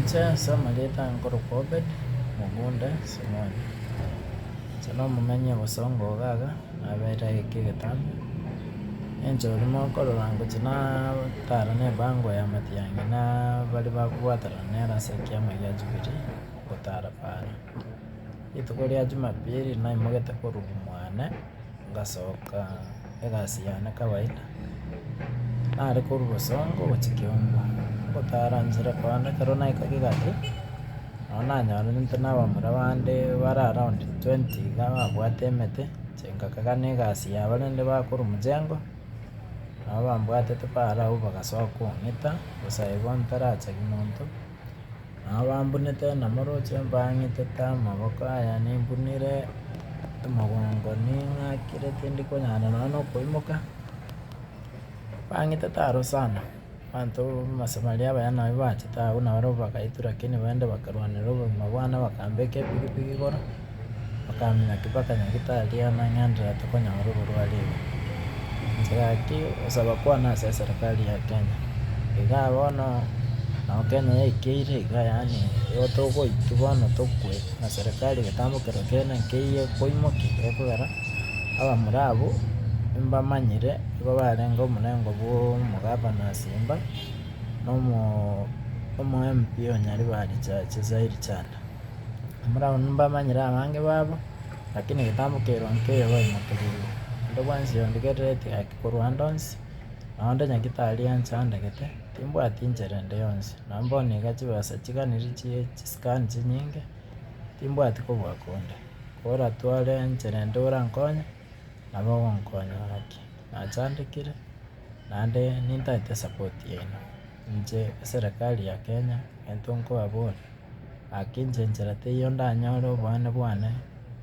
Inche ase amarieta ange nkorokwa Obed, mogoonda Simoni. Inche nomomenyi o Bosongo iga iga, nabeire ageke egetambe. Engencho barabwo okorora ngochia nataarana ebango ya matiang'i na baria bagobwaterana nere ase ekiama gia Jubilee gotaara para. Rituko ria Jumapili naimoogete korwa mwane. Ngasoka egasi yane kawaida, nare korwa bosongo gochia kiomba, ngotara nchera korende ekero naikaga egati, nonye nanyorente na abamura bande bare around twenty iga babwate emete, inche ngakagana egasi yabo rende bakorwa mchengo, nabo bambwatete bare abwo bagasoka kong'ita, gose aye bono tarachegi monto. Nabambunete namoroche mbang'ite amaboko aya nimbunire omogongo ning'akire tindi konyara nonya na okoimoka, mbang'ite taro sana, abanto abasamaria abaya nabo bachete agwo nabare bagaitu lakini baende bakarwanera obogima bwane bakambeka epikipiki igoro. Okamenya ki bakanya gitari amang'enera tokonyora oborwari iga? Inchera ki osaba kwane ase eserikari ya Kenya? Igaa bono nao Kenya yaikeire iga yaani igo togoiki bono tokwe na serikari egetambe kerwa kende nkeiyo ekoimoki ekogera abamura abwo mbamanyire igo barenge omorengo bwa omogavana ase mba na omo MP o Nyaribari Charity Chanda. Mbaraoni mbamanyire abange babo, lakini egetambo keirwe nkeyo baimokerigwe. Onde bwensi ondigerereti gaki korwa ande onsi, na onde nyagitari onsi ondegete, timbwati inchera ende yonsi, na mbono iga chibesa chiganiri chie chisikani chinyinge, timbwati kobua konde. Koratware inchera ende orankonye, nabo ogonkonya gaki. Nachandekire, naende nintaete esapoti yaino. Inche eserekari ya Kenya egento nkobaboria, gaki inche enchera teiyo ndanyore obonene bwane,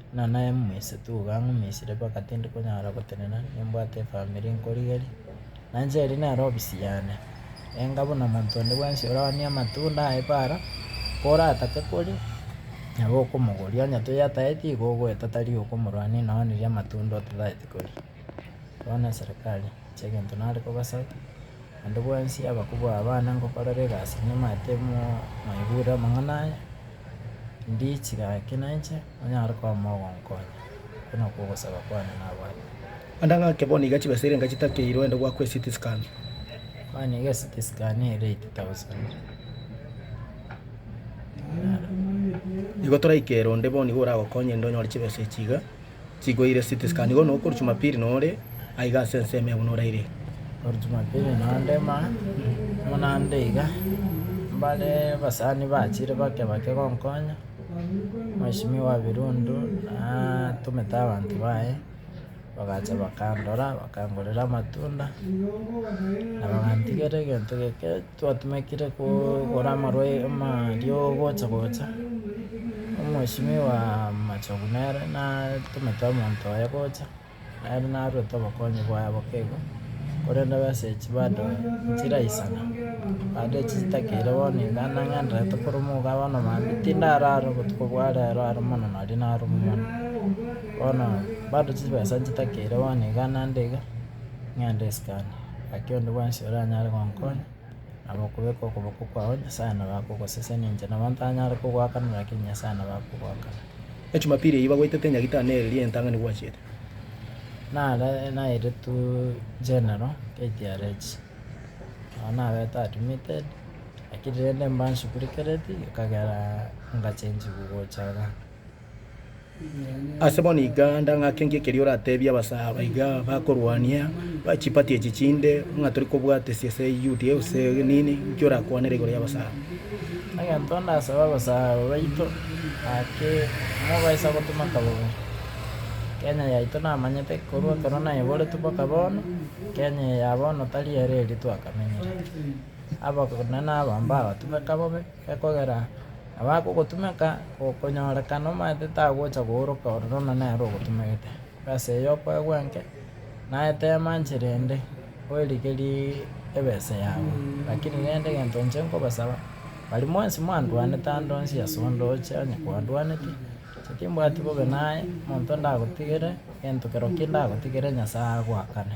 buna naye mominisitu iga ngominsiire mpaka tindi konyara gotenena nimbwate efamiri nkorigerie, nainche eria nere ofisi yane, enga buna monto onde bwensi orabanie amatunda aye paara, koratake koria, nabo okomogoria, onye toyataeti igo ogoeta tari okomorwania nonya riria amatunda otatagete koria, bono eserekari. chi'egento nare kobasake. Naende bwensi abakubwa abana ngokorera egasi nimanyete mwaigure amang'ana aya, ndiche gaki nainche onyare koba mogonkonya, oko nokwo ogosaba kwane nabwate. Naende ng'ake bono iga chibesa erenga chitakeirwe aende gwakwa eCT scan. Mani iga eCT scan ere eight thousand. Igo toraikere onde bono igo oragokonye inde onyore chibesa echi iga. chigoire city scan igo nokoru jumapili nore aiga ase ensemo ebu noraire Okoru Jumapili naende ma amo naende iga mbare abasani bachire bake bake gonkonya mweshimiwa Birundu natumete abanto baye bagacha bakandora bakangorera amatunda na bagantigera egento geke Twatumekire kogora amarwaima aria ogocha gocha, omweshimiwa wa Machogu nere natumete omonto oye gocha, nere narwete obokonyi bwaye bokego, korende abasechi bado nchiraisana, bado echi chitakeire bono iga nang'enderete koruma iga bono mambia pi tindarara obotuko bwa rero aro mono naria naruma mono, bono bado chibesa nchitakeire bono iga naende iga, ng'ende esukari. Gaki onde bwensi oranyare gonkonya, nabo okobeka okoboko kwao Nyasae nabo akogosesenia, inche nabo ntanyare kogoakanera, lakini Nyasae nabo akogoakanera. Ejumapili eyio bagwetete enyagita na eeri y'entang'ani bwachete. Nare naeirtu general KTRH, nabo nabete admitted, lakini rende mbanshughulikereti ekagera ngachenchigwa gocha iga. Ase bono iga ndang'ake ng'o ekeria oratebie abasaba iga bakorwania chipati echi chinde ng'a tori kobwatesia ase UDA gose nini, nki orakwanere igoro y'abasaba? Egento ndasaba abasaba baito ake mobaisa gotoma kabonge. Kenya yaito namanyete korwa ekero naeboretwe mpaka bono, Kenya eye ya bono tari ere eria twakamenyerete. Abanene aba mbabatome kabobe. Ekogera abakogotumeka, gokonyoorekana omanyete tagocha kooroka ororo na nere ogotumegete. Bw'esa eyo kwegwenke, naye teema nchera ende, oerigerie ebesa yao. Lakini rende egento inche nkobasaba, baria mwensi mwandwanete ande onsi ase onde oche onye kwandwaneti, inche timbwati bobe naye, omonto ndagotigere gento kerokio ndagotigere Nyasae agoakane.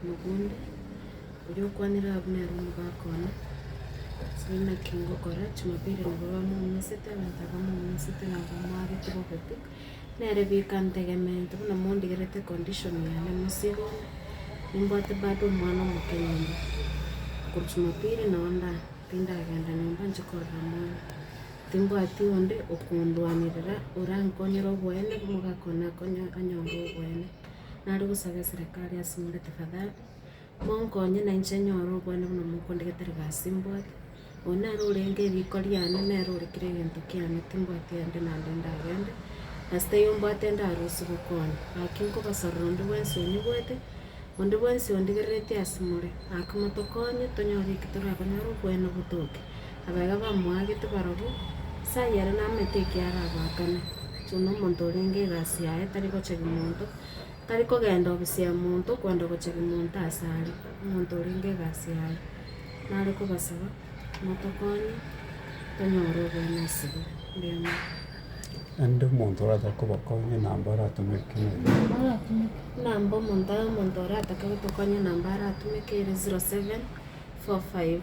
omogunda, oria okwanire Abneri omogaka one, ase naki ngokora Jumapili nigo bamoumisete, abanto aba moumisete na abamwabete bobekwi, nere bieka ntegemeete buna mondigerete condition yane mosigo ime, nimbwate bado omwana omoke nyomba, korwa Jumapili nao ndare, tindagenda nyomba nche korora mwana, timbwati onde okondwanirira orankonyere oboene, omogaka one akonye- anyore oboene. nare gosaba eserekari ase more tafadhali, monkonye na inche nyore obwane buna mokonde gete ribasi mbwate, oyo nere orenge riko riane, nere ore kera egento kiane, timbwati ande na ande ndagende, ase taiyo mbwate ndarusie gokwana, gaki nkobasarora onde bwensi onyebwate, onde bwensi ondigereretie ase more, gaki motokonye tonyore eki torakonyore obwane botoke. abaiga bamoagete barobwo, ase ayio ere namanyete ekio arabaakane, so na omonto orenge egasi yaye tari gochegi monto, tari kogenda obusia monto kwenda gochegi monto ase are, omonto orenge egasi yaye, nare kobasaba motokonye tonyore obomo ase bo, erio amo- Naende omonto orachaka kobakonya namba aratomeke namba omonto omonto oratake gotokonya namba aratomeke ere zero seven, four five.